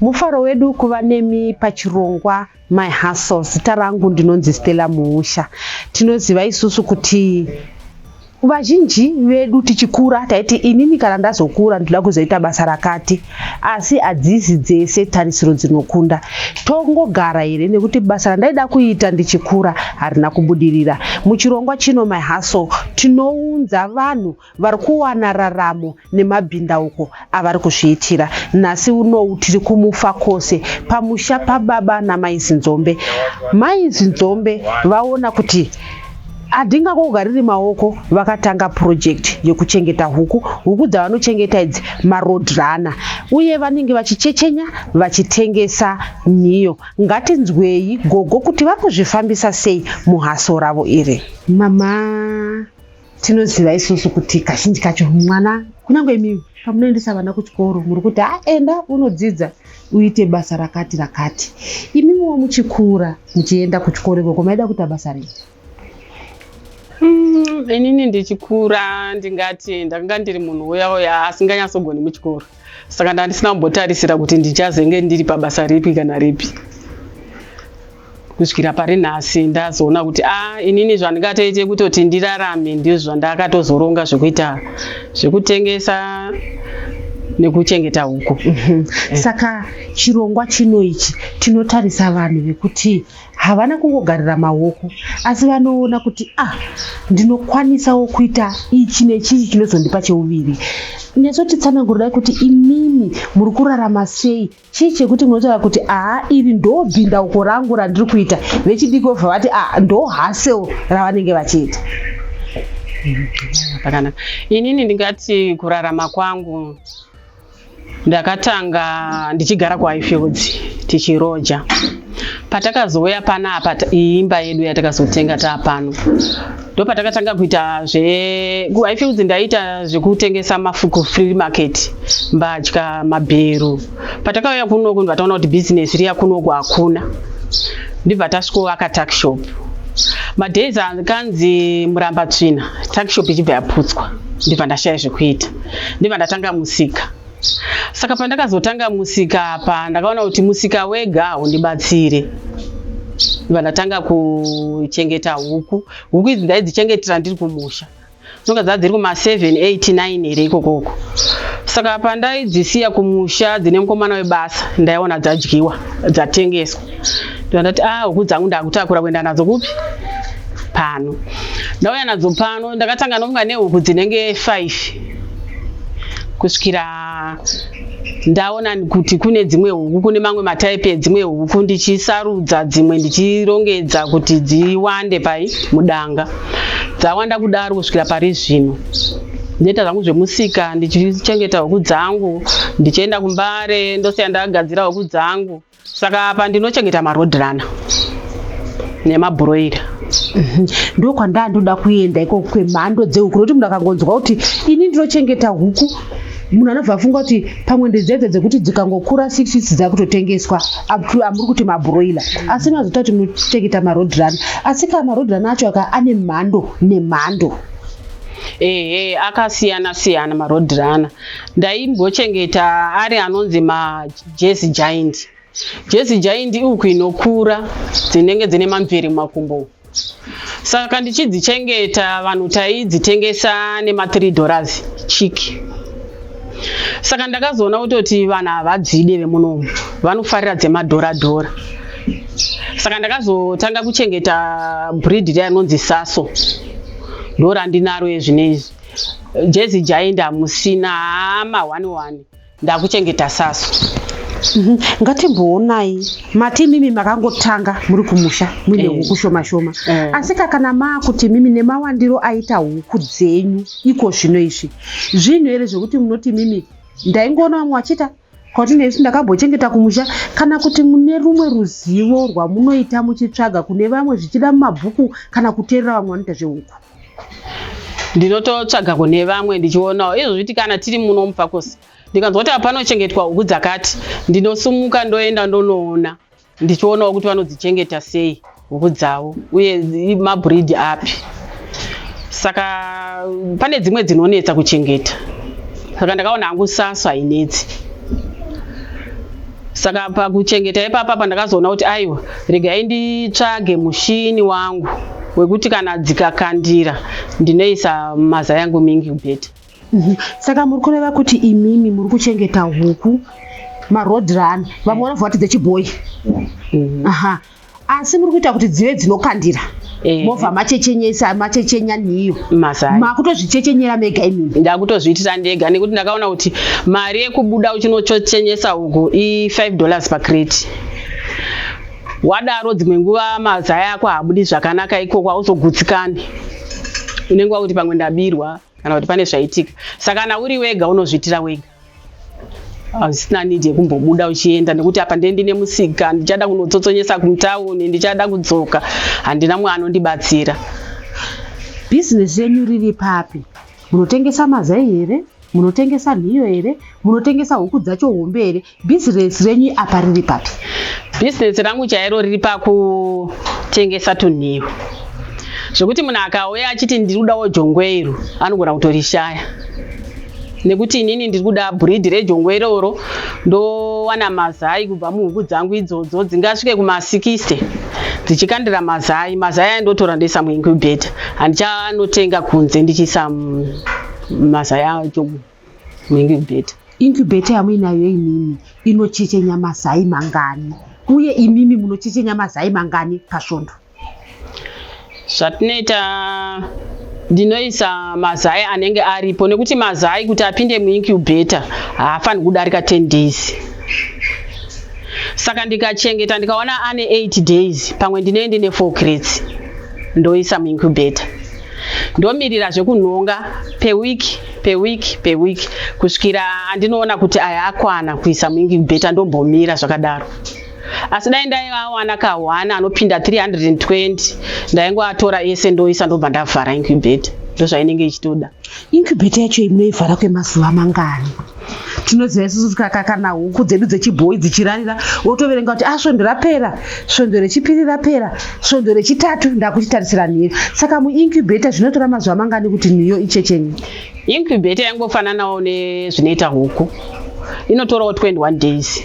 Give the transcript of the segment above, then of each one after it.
mufaro wedu kuva nemi pachirongwa my hustle zita rangu ndinonzi stella muusha tinoziva isusu kuti vazhinji vedu tichikura taiti inini kana ndazokura ndoda kuzoita basa rakati Asi hadzisi dzese tarisiro dzinokunda. Tongogara here nekuti basa randaida kuita ndichikura harina kubudirira. Muchirongwa chino My Hustle tinounza vanhu vari kuwana raramo nemabhindauko avari kuzviitira. Nhasi unou tiri kuMufakose pamusha pababa naMai Zinzombe. Mai Zinzombe vaona kuti Adinga kogariri maoko vakatanga project yekuchengeta huku. Huku dzavanochengeta idzi maroad runner uye vanenge vachichechenya vachitengesa nhiyo. Ngatinzweyi gogo kuti vakuzvifambisa sei muhaso ravo iri. Mama tinoziva isusu kuti kazhinji kacho mwana kunyange imi pamunoendesa vana kuchikoro muri kuti aenda unodzidza uite basa rakati rakati imimiwo muchikura muchienda kuchikoro ikoko maida kuita basa rei Mm, inini ndichikura ndingati ndakanga ndiri munhu uya uya asinganyatsogoni muchikoro saka ndandisina kumbotarisira kuti ndichazenge ndiri pabasa ripi kana ripi kusvikira pari nhasi ndazoona kuti a ah, inini zvandingatoite kutoti ndirarame ndizvo zvandakatozoronga zvekuita zvekutengesa nekuchengeta huku mhm. eh. saka chirongwa chino ichi tinotarisa vanhu vekuti havana kungogarira maoko asi vanoona kuti ah ndinokwanisawo kuita ichi nechichi chinozondipa cheuviri neso titsananguridai kuti imimi muri kurarama sei chii chekuti munotaura kuti aa iri ndobvinda uko rangu randiri kuita vechidiki vobva vati a ndo hasel ravanenge vachiita pakanaka inini ndingati kurarama kwangu ndakatanga ndichigara kuhighfields tichiroja patakazouya panapa imba yedu yatakazotenga taa pano ndopatakatanga kuita zve i feel kuti ndaita zvekutengesa mafuku free market mbatya mabhero patakauya kunoku ndibva taona kuti business riya kunoku hakuna ndibva tasvikoaka takshop madays akanzi muramba tsvina takshop ichibva yaputswa ndibva ndashaya zvekuita ndibva ndatanga musika saka pandakazotanga musika apa ndakaona kuti musika wega haundibatsire vandatanga kuchengeta huku huku idzi ndaidzichengetera ndiri kumusha dzinonga dzaa dziri kuma 789 here ikokoko saka pandaidzisiya kumusha dzine mukomana webasa ndaiona dzadyiwa dzatengeswa ndandati ah huku dzangu ndakutakura kuenda nadzo kupi pano ndauya nadzo pano ndakatanga nomuka nehuku dzinenge five kusvikira ndaona kuti kune dzimwe huku kune mamwe mataipi edzimwe huku ndichisarudza dzimwe ndichirongedza kuti dziwande pai mudanga dzawanda kudaro kusvikira pari zvino ndoita zvangu zvemusika ndichichengeta huku dzangu ndichienda kumbare ndosiya ndagadzira huku dzangu Saka apa ndinochengeta maroad runner nemabhuroira mhm. ndo kwandaa ndoda kuenda ikoko kwemhando dzehuku nokuti munhu akangonzwa kuti ini ndinochengeta huku munhu anobva afunga kuti pamwe ndedzedza dzekuti dzikangokura six weeks dzakutotengeswa amuri kuti mabroiler asi mazota kuti munochengeta maroad run asi kaa maroad run acho aka ane mhando nemhando ehe akasiyana siyana maroad runner ndaimbochengeta ari anonzi ma Jersey Giant. Jersey Giant ihuku inokura dzinenge dzine mamvere mumakumbo. Saka ndichidzichengeta vanhu taidzitengesa nema 3 dollars chiki. Saka ndakazoona kutoti vanhu havadzide vemunomu vanofarira dzemadhora dhora. Saka ndakazotanga kuchengeta breed riya rinonzi Saso. Ndorandinaro ezvinezvi. Jersey Giant hamusina hama one one. ndakuchengeta sasu mhm. ngatimboonai mati mimi makangotanga muri kumusha muine eh. huku shoma shoma eh. asi kakana maakuti mimi nemawandiro aita huku dzenyu iko zvino izvi zvinhu here zvekuti munoti mimi ndaingoona vamwe vachiita kwati nesu ndakambochengeta kumusha kana kuti mune rumwe ruzivo rwamunoita muchitsvaga kune vamwe zvichida mumabhuku kana kuteerera vamwe vanoita zvehuku ndinototsvaga kune vamwe ndichionawo izvozviti kana tiri muno mufakosi ndikanzwa kuti apanochengetwa huku dzakati ndinosumuka ndoenda ndonoona ndichionawo kuti vanodzichengeta sei huku dzavo uye mabreed api saka pane dzimwe dzinonetsa kuchengeta saka ndakaona hangu saso hainetsi saka pakuchengeta ipapa pandakazoona kuti aiwa regai nditsvage mushini wangu wekuti kana dzikakandira ndinoisa maza yangu mingi bheti mhm. saka muri kureva kuti imimi muri kuchengeta huku maroad run vamwe vanobva vati dzechibhoyi mhm. aha asi muri kuita kuti dzive dzinokandira eh. movha machechenyesa machechenya niyo makutozvichechenyera mega imini ndakutozviitira ndega nekuti ndakaona kuti mari yekubuda uchinochechenyesa huku i5 dollars pacrate wadaro dzimwe nguva mazaya ako haabudi zvakanaka ikoko hauzogutsikani unenge wakuti pamwe ndabirwa kana kuti pane zvaitika saka kana uri wega unozviitira wega hazvisina need yekumbobuda uchienda nekuti apa ndee ndine musika ndichada kunotsotsonyesa kumutauni ndichada kudzoka handina mwe anondibatsira bhizinesi yenyu riri papi munotengesa mazai here munotengesa nhiyo here munotengesa huku dzacho hombe here bhizinesi renyu apa riri papi bhizinesi rangu chairo riri pakutengesa tunhiyo zvekuti munhu akauya achiti ndiri kudawo jongwe iro anogona kutorishaya nekuti inini ndiri kuda breed rejongwe iroro ndowana mazai kubva muhuku dzangu idzodzo dzingasvike kuma 60 dzichikandira mazai mazai aya ndotora ndoisa muincubator handichanotenga kunze ndichiisa mazai acho muincubator incubator yamuinayo inini inochechenya mazai mangani uye imimi munochechenya mazai mangani pasvondo zvatinoita ndinoisa mazai anenge aripo nekuti mazai kuti apinde muincubator haafaniri kudarika 10 days saka ndikachengeta ndikaona ane 8 days pamwe ndinee ndine 4 crets ndoisa muincubator ndomirira zvekunhonga peweek peweek peweek kusvikira andinoona kuti aya akwana kuisa muincubator ndombomira zvakadaro asi dai ndaivawana ka one anopinda 320 ndaingoatora ese ndoisa ndobva ndavhara incubate ndozvainenge ichitoda incubate yacho imunoivhara kwemazuva mangani tinoziva isusu tikaka kana huku dzedu dzechibhoyi dzichirarira wotoverenga kuti asvondo ah, rapera svondo rechipiri rapera svondo rechitatu ndakuchitarisira nhiyo saka muincubata zvinotora mazuva mangani kuti nhiyo ichechenye Incubator yangofananawo nezvinoita huku inotorawo 21 days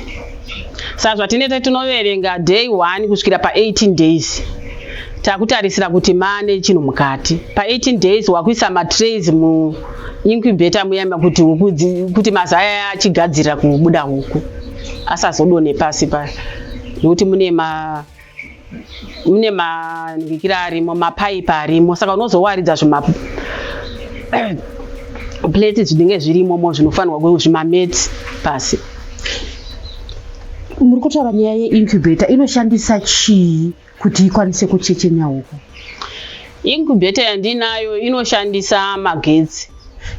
saka zvatinete tinoverenga day 1 kusvikira pa18 days takutarisira kuti mane chinhu mukati pa18 days wakuisa matrays mu incubator muyama kuti huku kuti mazaya achigadzirira kubuda huku asazodone pasi pa nekuti mune ma mune manhikira arimo mapaipi arimo saka unozowaridza zvima plate zvinenge zvirimomo zvinofanirwa kuve zvimameti pasi muri kutaura nyaya yeincubator inoshandisa chii kuti ikwanise kuchechenya uku incubator yandinayo inoshandisa magetsi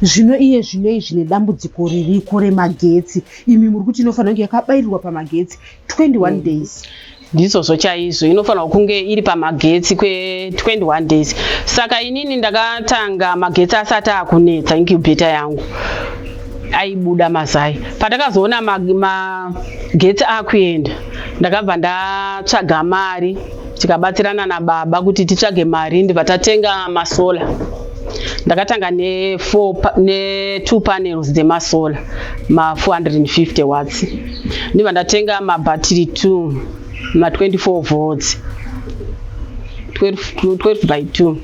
zvino iye zvinoi zvine dambudziko ririko remagetsi imi muri kuti inofanira kunge yakabairirwa pamagetsi 21 mm. days ndizvozvo chaizvo inofanirwa kunge iri pamagetsi kwe21 days saka inini ndakatanga magetsi asati akunetsa incubeta yangu aibuda mazai patakazoona magetsi ma akuenda ndakabva ndatsvaga mari tikabatsirana nababa kuti titsvage mari ndibva tatenga masola ndakatanga ne2 panels dzemasola ma450 watts Ndiva ndatenga mabattery two ma 24 volts 12, 12 by 2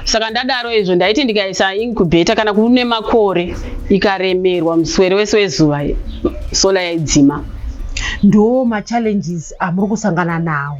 saka ndadaro izvo ndaiti ndikaisa incubator kana kune makore ikaremerwa muswere wese wezuva sola yaidzima ndo machallenges amuri kusangana nawo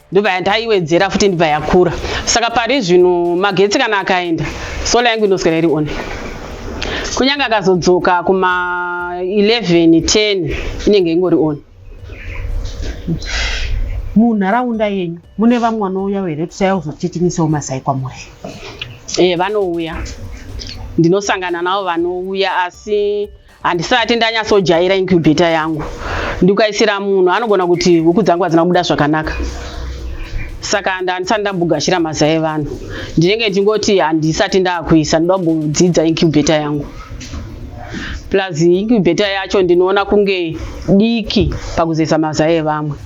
ndobva yandaiwedzera futi ndibva yakura saka pari zvino magetsi kana akaenda sola yangu inoswera iri one kunyange akazodzoka kuma 11 10 inenge ingori one munharaunda yenyu mune vamwe vanouya here tusaya kuzotitinyisawo masai kwamuri e eh, vanouya ndinosangana navo vanouya asi handisati ndanyatsojaira incubator yangu ndikukaisira munhu anogona kuti huku dzangu hadzina kubuda zvakanaka saka ndandisati ndambogashira maza evanhu ndinenge ndingoti handisati ndakuisa ndoda kumbodzidza incubator yangu plus incubator yacho ndinoona kunge diki pakuzeza maza evamwe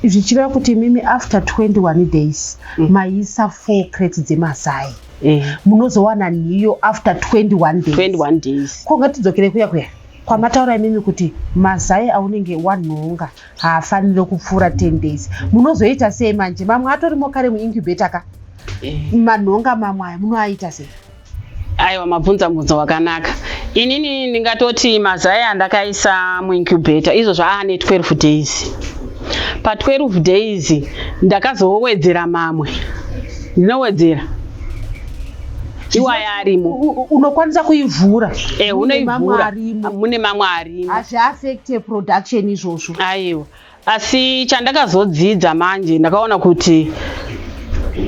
zvichireva kuti imimi after 21 days mm. maisa four crate dzemazai eh. munozowana nhiyo after 21 days 21 days ko ngatidzokere kuya kuya kwamataura imimi kuti mazai aunenge wanhonga haafanire kupfuura 10 days munozoita sei manje mamwe atorimo kare muincubata ka eh. manhonga mamwe aya munoaita sei aiwa mabvunza mubvunzo wakanaka inini ndingatoti mazai andakaisa muincubata izvo zvaane 12 days pa 12 days ndakazowedzera mamwe Ndinowedzera. Iwaya arimo. Unokwanisa kuivhura. Eh, unoivhura. Mune mamwe arimo. Hazvi affect production izvozvo. Aiwa. Asi chandakazodzidza manje ndakaona kuti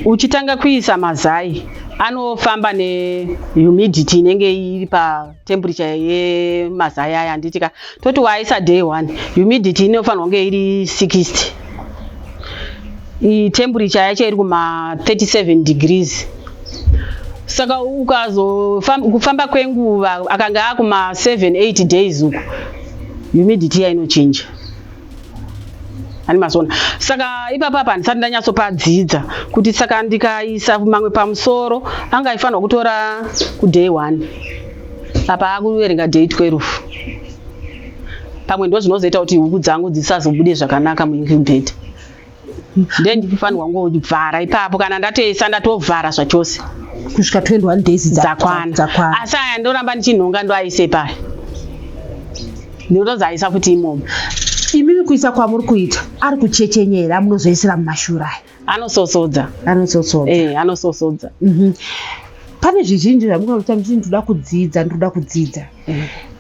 uchitanga kuisa mazai anofamba nehumidity inenge iri pa temperature yemazai aya handiti ka toti waisa day one humidity inofanirwa kunge iri 60 temperature yacho iri kuma 37 degrees saka ukazokufamba kwenguva akanga akuma 7 8 days uku humidity yainochinja ani mazoona saka ipapa apa handisati ndanyatsopadzidza kuti saka ndikaisa mamwe pamusoro anga aifanirwa kutora kuday one apa akuverenga day 12 pamwe ndo zvinozoita kuti huku dzangu dzisazobude zvakanaka muincubator then ndinofanirwa kungovhara ipapo kana ndatoisa ndatovhara zvachose kusvika 21 days dzakwana asi aya ndoramba ndichinhonga ndoaise paya ndinotonzi aisa futi imomo imimi kuisa kwamuri kuita ari kuchechenya here amunozoisira mumashura aya anososodza anososodza eh, anososodza mhm. pane zvizhinji zvamungaita muchiti ndinoda kudzidza ndinoda kudzidza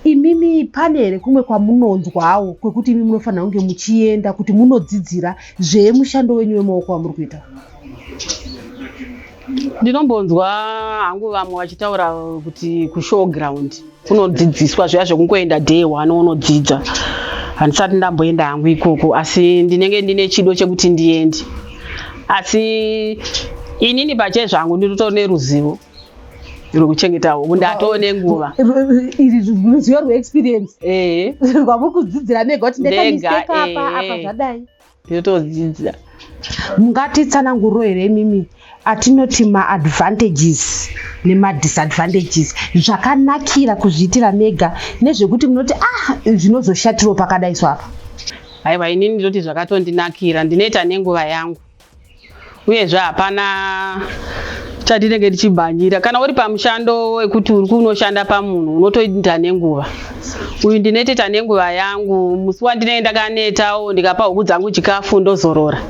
imimi pane here kumwe kwamunonzwawo kwekuti imi munofanira kunge muchienda kuti munodzidzira zvemushando wenyu wemaoko wamuri kuita ndinombonzwa hangu vamwe vachitaura kuti kushow ground kunodzidziswa zviya zvekungoenda day one unodzidza handisati ndamboenda hangu ikoko asi ndinenge ndine chido chekuti ndiende asi inini pachezvangu ndinoto neruzivo rwekuchengeta huku ndatoo nenguva iri ruzivo rweexperience eh. rwamukudzidzira mega kuti ndekamiseka apa eh. apa zvadai yotodzidza mungatitsananguriro here imimi atinoti maadvantages nemadisadvantages zvakanakira kuzviitira mega nezvekuti munoti ah zvinozoshatiro pakadaiswa apa aiwa inini ndoti zvakatondinakira ndinoita nenguva yangu uyezve hapana chatinenge tichibhanjira kana uri pamushando wekuti uri kunoshanda pamunhu unotoita nenguva uyu ndineteta nenguva yangu musi wandinenge ndakanetawo ndikapa huku dzangu chikafu ndozorora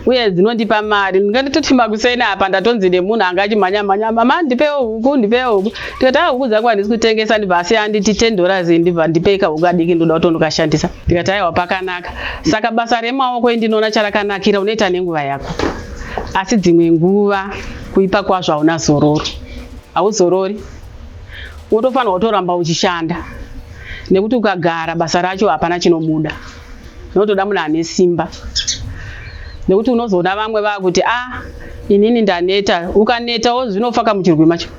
uye dzinondipa mari ndingatoti makuseni apa ndatonzi nemunhu anga achimhanya mhanya mama ndipewo huku ndipewo huku ndikati a huku dzangu handisi kutengesa ndibva asi anditi ten dollars ndibva ndipeka huku adiki ndoda kutonokashandisa ndikati aiwa pakanaka Saka basa remaoko endinoona charakanakira unoita nenguva yako, asi dzimwe nguva kuipa kwazvo hauna zororo, hauzorori wotofanirwa kutoramba uchishanda nekuti ukagara basa racho hapana chinobuda, unotoda munhu ane simba nekuti unozoona vamwe vakuti a ah, inini ndaneta, ukanetawo zvinofa kamuchirwi macho.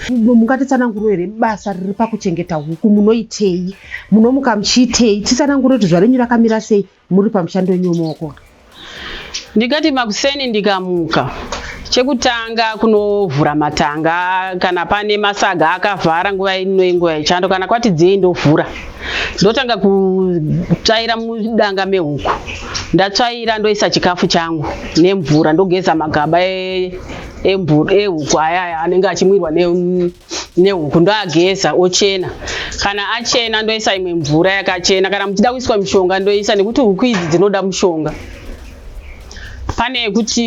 Mungatitsananguro here basa riri pakuchengeta huku munoitei? munomuka muchiitei tisanangure kuti zuva renyu rakamira sei muri pamushando wenyu wemaoko ndikati makuseni ndikamuka chekutanga kunovhura matanga kana pane masaga akavhara nguva ino inguva yechando kana kwati dzei ndovhura ndotanga kutsvaira mudanga mehuku ndatsvaira ndoisa chikafu changu nemvura ndogeza magaba e, ehuku e, e, ayaya anenge achimwirwa nehuku ndoageza ochena kana achena ndoisa imwe mvura yakachena kana muchida kuiswa mishonga ndoisa nekuti huku idzi dzinoda mushonga pane yekuti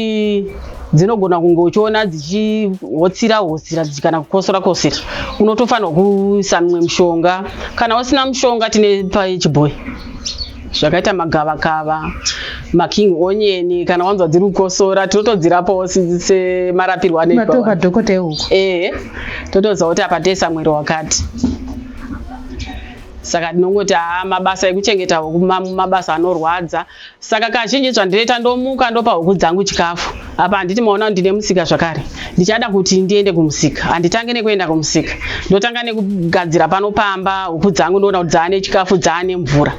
dzinogona kunge uchiona dzichihotsira hotsira kana kukosora kosera unotofanirwa kuisa mimwe mushonga kana usina mushonga tine pachibhoyi zvakaita magavakava making onion kana wanzwa dziri kukosora tinotodzirapawo semarapirwo anoitwa dhokota ehuku ehe totoziva kuti apa tese mwiri wakati saka ndinongoti haa mabasa ekuchengeta huku mabasa anorwadza saka kazhinji zvandinoita ndomuka ndopa huku dzangu chikafu apa handiti maona kuti ndine musika zvakare ndichada kuti ndiende kumusika handitange nekuenda kumusika ndotanga nekugadzira pano pamba huku dzangu ndoona kuti dzaane chikafu dzaane mvura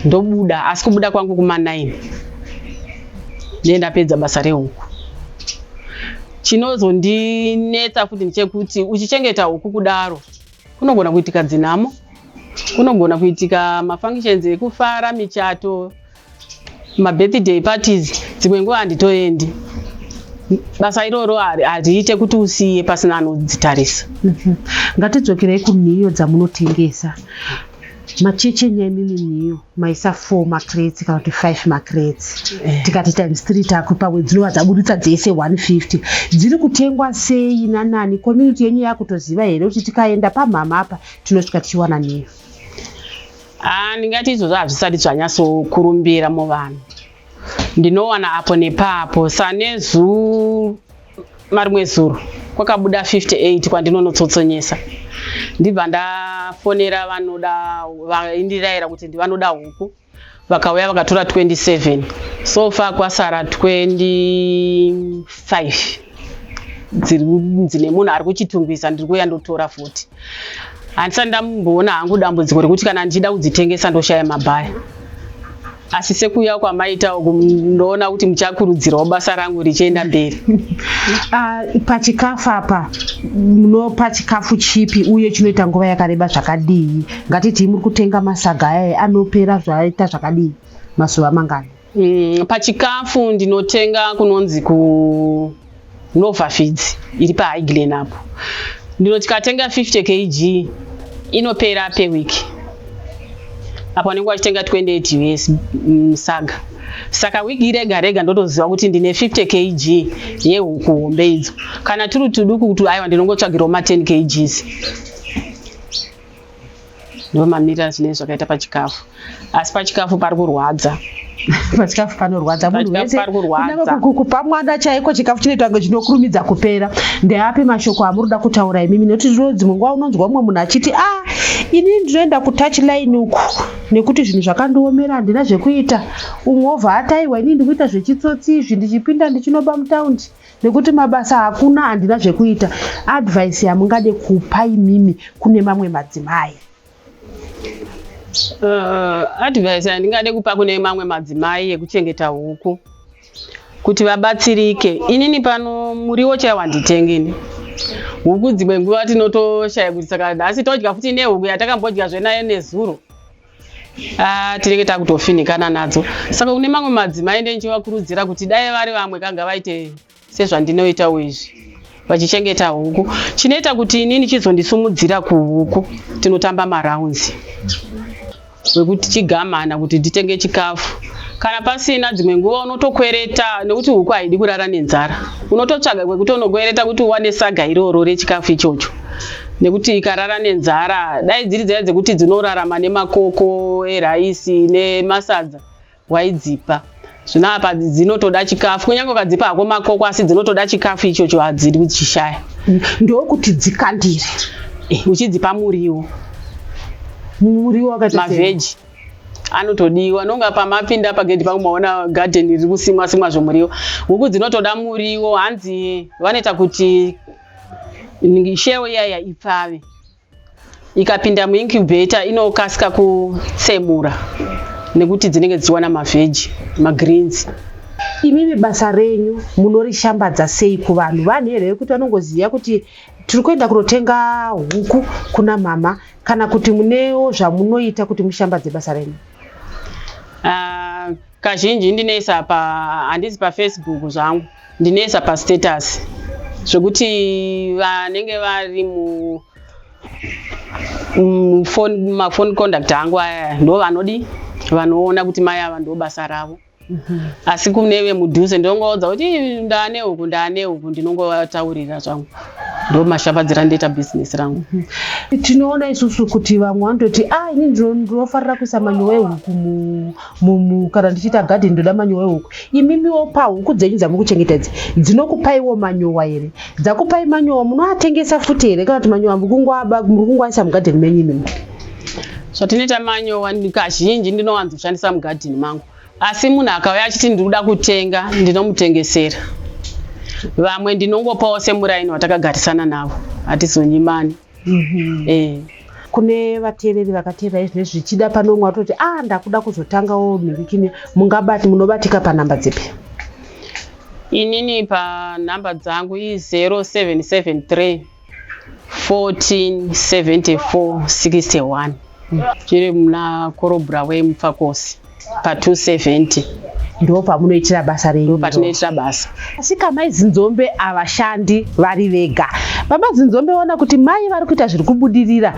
ndobuda asi kubuda kwangu kuma9 ndiye ndapedza basa rehuku chinozondinetsa futi ndichekuti uchichengeta huku kudaro kunogona kuitika dzinhamo kunogona kuitika mafunctions ekufara michato mabirthday parties dzimwe nguva handitoendi basa iroro hariite kuti usiye pasina anodzitarisa mhm. ngatidzokerei kunhiyo dzamunotengesa macheche nyaimimi nhiyo maisa four macrets kana kuti five macrets eh. tikati times three taku pamwe dzinova dzaburitsa dzese one fifty dziri kutengwa sei nanani community yenyu yakutoziva here kuti tikaenda pamhama apa tinosvika tichiwana nhiyo Ah, ndingati izvozvo hazvisati zvanyatsokurumbira muvanhu ndinowana apo nepapo sanezuru marimwe zuro kwakabuda 58 kwandinonotsotsonyesa ndibva ndafonera vanoda vaindiraira kuti ndivanoda huku vakauya vakatora 27 so far kwasara 25 dzine munhu ari kuchitungwiza ndiri kuuya ndotora futi handisati ndamboona hangu dambudziko rekuti kana ndichida kudzitengesa ndoshaya mabhaya asi sekuuya kwamaita uku ndoona kuti muchakurudzirawo basa rangu richienda mberi ah, pachikafu apa munopa chikafu chipi uye chinoita nguva yakareba zvakadii ngatitii muri kutenga masaga ayaye anopera zvaita zvakadii mazuva mangani mm, pachikafu ndinotenga kunonzi kunovafeeds iri pahighland apo ndino tikatenga 50 kg inopera peweek apo anenge wachitenga 28 us mm, saga saka wiki rega rega ndotoziva kuti ndine 50 kg yehuku hombe idzo kana turi tuduku kuti aiwa ndinongotsvagirawo ma 10 kgs ndomamira zvine zvakaita pachikafu asi pachikafu pari kurwadza pachikafu panorwadza munhu wese kupa mwana chaiko chikafu chinoita kunge chinokurumidza kupera ndeapi mashoko amuri kuda kutaura imimi nekuti zvino dzimwe nguva unonzwa umwe munhu achiti a ah, ini ndinoenda kutouch line uku nekuti zvinhu zvakandiomera handina zvekuita umwe obva ataiwa inii ndikuita zvechitsotsi izvi ndichipinda ndichinoba mutaundi nekuti mabasa hakuna handina zvekuita advice yamungade kupa imimi kune mamwe madzimai uh, advice yandingade kupa kune mamwe madzimai yekuchengeta huku kuti vabatsirike inini pano muriwo chaiwo handitengini huku dzimwe nguva tinotoshaya kuti saka nhasi todya futi nehuku yatakambodya zvenayo nezuro Ah, tinenge takutofinikana nadzo saka kune mamwe madzimai ndenjivakurudzira kuti dai vari vamwe kanga vaite sezvandinoitawo izvi vachichengeta huku chinoita kuti inini chizondisumudzira kuhuku tinotamba maraunzi wekuti chigamana kuti nditenge chikafu kana pasina dzimwe nguva unotokwereta nekuti huku haidi kurara nenzara unototsvaga kwekuti unokwereta kuti uwane saga iroro rechikafu ichocho nekuti ikarara nenzara dai dziri dzaya dzekuti dzinorarama nemakoko eraisi nemasadza waidzipa zvino apa dzinotoda chikafu kunyange ukadzipa hako makoko asi dzinotoda chikafu ichocho hadzidi kuchishaya ndokuti dzikandire eh, uchidzipa muriwo muriwo mavheji anotodiwa nonga pamapinda pagedhi pangu maona gadheni riri kusimwa simwa zvomuriwo huku dzinotoda muriwo hanzi vanoita kuti shell iyaya ipfave ikapinda muincubator inokasika kutsemura nekuti dzinenge dzichiwana mavheji magreens imimi basa renyu munorishambadza sei kuvanhu vanhu here vekuti vanongoziva kuti tiri kuenda kunotenga huku kuna mama kana kuti munewo zvamunoita kuti mushambadze basa renyu uh, kazhinji ndinoisa pa handisi pafacebook zvangu ndinoisa pastatus zvekuti vanenge vari mu mafoni conduct angu aya ndo vanodi vanoona kuti mai ava ndo basa ravo mhm. asi kune vemudhuze ndinongovaudza kuti ndaane huku ndaane huku ndinongovataurira zvangu ndo mashambadzira ndoita bhizinesi rangu mhm. tinoona isusu kuti vamwe vanototi a ah, ini ndinofarira kuisa manyowa ehuku mumu kana ndichiita garden ndoda manyowa ehuku imimiwo pahuku dzenyu dzamuri kuchengeta idzi dzinokupaiwo manyowa here dzakupai manyowa munoatengesa futi here kana kuti manyowa muri kungoaisa mugarden menyu imimi zvatinoita manyowa kazhinji ndinowanzoshandisa mugadhini mangu asi munhu akauya achiti ndiri kuda kutenga ndinomutengesera vamwe ndinongopawo semuraini watakagarisana navo hatizonyimani mm -hmm. eh. kune vateereri vakateerera izvi nezvi zvichida pane umwe atoti a ah, ndakuda kuzotangawo mhirikini mungabati munobatika panhamba dzipi inini panhamba dzangu i0773 1474 61 chiri muna korobhura wemupfakosi pa 270 ndipo pamunoitira basa renyu patinoitira basa asika mai zinzombe havashandi vari vega baba zinzombe vona kuti mai vari kuita zviri kubudirira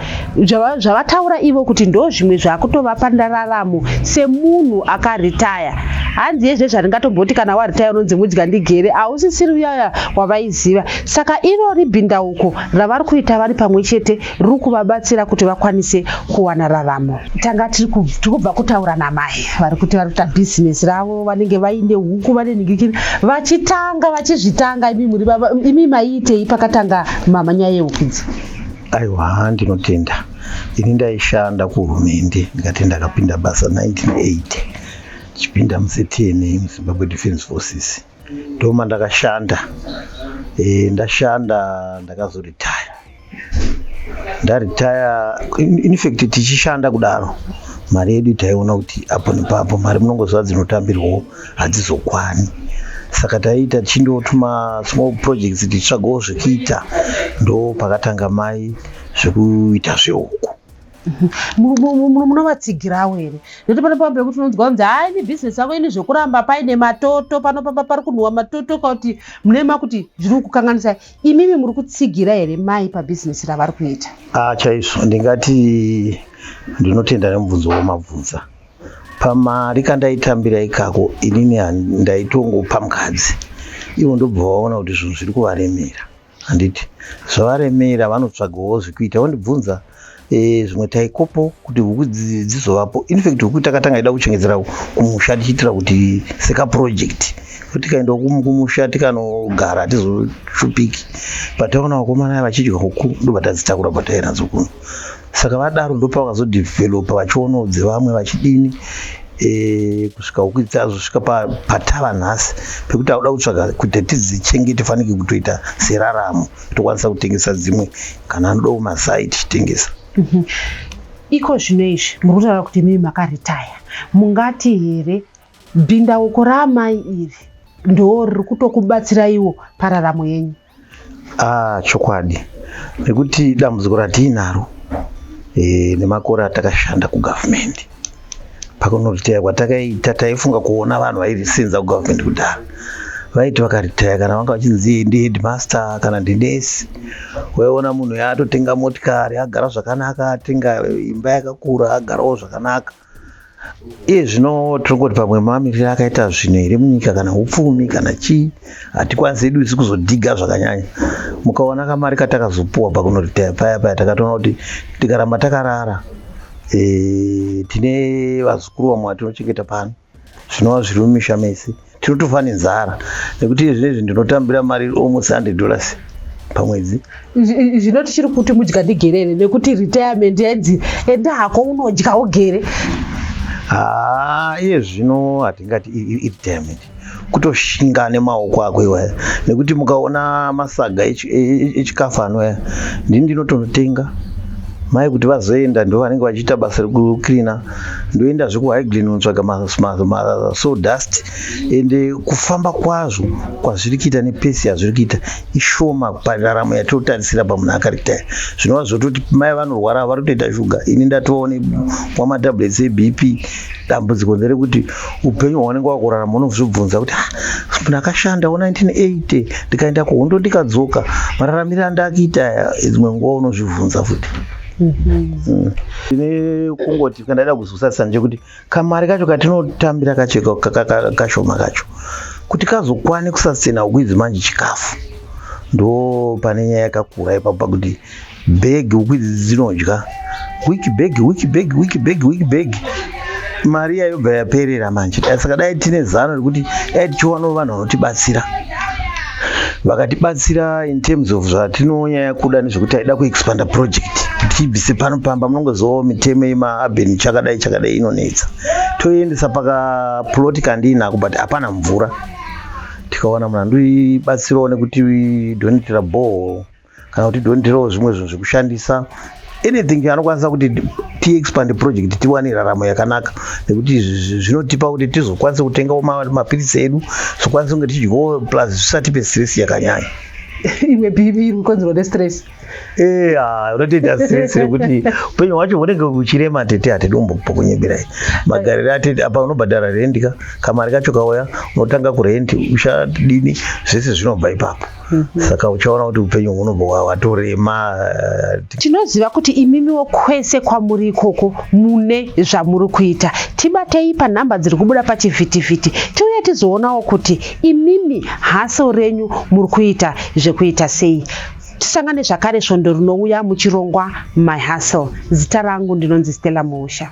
zvavataura ivo kuti ndo zvimwe zvakutovapa ndararamo semunhu akaritaya hanzi yezve zvaringatomboti kana waritaya unonzi mudya ndigere hausisiri uyaya wavaiziva saka irori bhindauko ravari kuita vari pamwe chete ruri kuvabatsira kuti vakwanise kuwana raramo. Tanga tiri kubva kutaura namai vari kuti vari kuita bhizinesi ravo, vanenge vaine huku, vane nhingikiri, vachitanga vachizvitanga. Imi muri baba, imi maiitei pakatanga mama nyaya yehuku idzi? Aiwa, ndinotenda ini ndaishanda kuhurumende ndikati ndakapinda basa 1980 ndichipinda muctna muzimbabwe defence forces ndoma ndakashanda e, ndashanda ndakazoritaya ndaritaya in fact tichishanda kudaro mari yedu taiona kuti apo nepapo mari munongoziva dzinotambirwawo hadzizokwani saka taiita tichindotuma small projects tichitsvagawo zvekuita ndo pakatanga mai zvekuita zvehuku munovatsigirawo here nekuti pane pamba pekuti unonzwa kunzi haa ini bhizinesi yako ini zvekuramba paine matoto panopamba pari kunhuwa matoto kauti mune makuti zviri kukukanganisai imimi muri kutsigira here mai pabhizinesi ravari kuita ah chaizvo ndingati ndinotenda nemubvunzo wamabvunza pamari kandaitambira ikako inini ndaitongopa mukadzi ivo ndobva vaona kuti zvinhu zviri kuvaremera handiti zvavaremera vanotsvagawo zvekuita vondibvunza Eh, zvimwe taikopo kuti huku dzizovapo infact huku takatanga ida kuchengedzera kumusha tichiitira kuti sekaproject tikaenda kumusha tikanogara hatizoshupiki but takaona vakomana vachidya huku ndobatadzitakura pataiva nadzo kuno saka vadaro ndopa vakazodevhelopa vachionawo dzevamwe vachidini eh, kusvika huku dzazosvika patava nhasi pekuti akuda kutsvaga kuti tidzichengete fanike kutoita seraramo tokwanisa kutengesa dzimwe kana anoda kumasai tichitengesa mhm. iko zvino izvi muri kutaura kuti mimi makaritaya mungati here bhindauko raamai iri ndoo riri kutokubatsiraiwo pararamo yenyu ah chokwadi nekuti dambudziko ratiinaro e, eh, nemakore atakashanda kugavhumendi pakunoritaya kwatakaita taifunga kuona vanhu vairisinza kugovernment kudhara vaiti vakaritaya kana vanga vachinzi ndi headmaster kana ndinesi waiona munhu yaatotenga motikari agara zvakanaka atenga imba yakakura agarawo zvakanaka iye zvino tiri kuti pamwe mamiriro akaita zvinhu here munyika kana upfumi kana chii hatikwanisi hedu isu kuzodhiga zvakanyanya mukaona kamari katakazopuwa pakunoritaya paya paya takatoona kuti tikaramba takarara e, tine vazukuru vamwe vatinochengeta pano zvinova zviri mumisha mese tinotofa nenzara nekuti zvinezvi ndinotambira mari almost hundred dollars pamwedzi zvino tichiri kuti mudya ndigerere nekuti retirement yenzi enda hako unodya ugere haa iye zvino hatingati retirement kutoshinga nemaoko ako iwaya nekuti mukaona masaga echi- e- echikafu anwaya ndini ndinotonotenga mai kuti vazoenda ndo vanenge vachiita basa rekucleana ndoenda zvekuhighgreen kunotsvaga ma- ma- ma- sawdust ende kufamba kwazvo kwazviri kuita nepesi yazviri kuita ishoma pandaramo yatinotarisira pamunhu akaritaya zvinova zvototi mai vanorwara vari kutoita shuga ini ndatova nemwa matablets ebp dambudziko nderekuti upenyu hwaunenge wakurarama unozvibvunza kuti ah, ndakashanda wo 1980 ndikaenda kuhondo ndikadzoka mararamire andakiita aya dzimwe nguva unozvibvunza futi mm-hmm. tine kungoti kandaida kuzosatisa ndechekuti kamari kacho katinotambira kacho kashoma kacho kuti kazokwane kusasena uku idzi manje chikafu ndo pane nyaya yakakura ipapo pakuti bag huku idzi dzinodya wiki bag wiki bag wiki bag wiki bag mari iya yobva yaperera manje saka dai tine zano rekuti dai tichiwanawo vanhu vanotibatsira vakatibatsira in terms of zvatinonyaya kuda nezvekuti aida kuexpanda project tibvise pano pamba munongozovawo mitemo yemaabeni chakadai chakadai inonetsa toiendesa pakaploti kandiinako but hapana mvura tikawana munhu andibatsirawo nekuti donitira bhoo kana kuti donderewo zvimwe zvinhu zvekushandisa anything anokwanisa kuti tiexpand project tiwane raramo yakanaka nekuti zvinotipa kuti tizokwanisa kutengawo mapiritsi edu zokwanisa kunge tichidyawo plus zvisatipe stress yakanyanya imwe pipi iri kukonzerwa nestress eh, ah, unotoita stress rekuti upenyu hwacho hunenge uchirema atete atete umbokunyemberai magariro atete apa unobhadhara rendi ka kamari kacho kauya unotanga kurendi uchadini zvese zvinobva ipapo Mhm. saka uchaona kuti upenyu hunobva hwa- hwatorema eh, ti- tinoziva kuti imimiwo kwese kwamuri ikoko mune zvamuri kuita tibatei panhamba dziri kubuda pachivhitivhiti tiuye tizoonawo kuti imimi haso renyu muri kuita zvekuita sei tisangane zvakare svondo rinouya muchirongwa my hustle zita rangu ndinonzi stella musha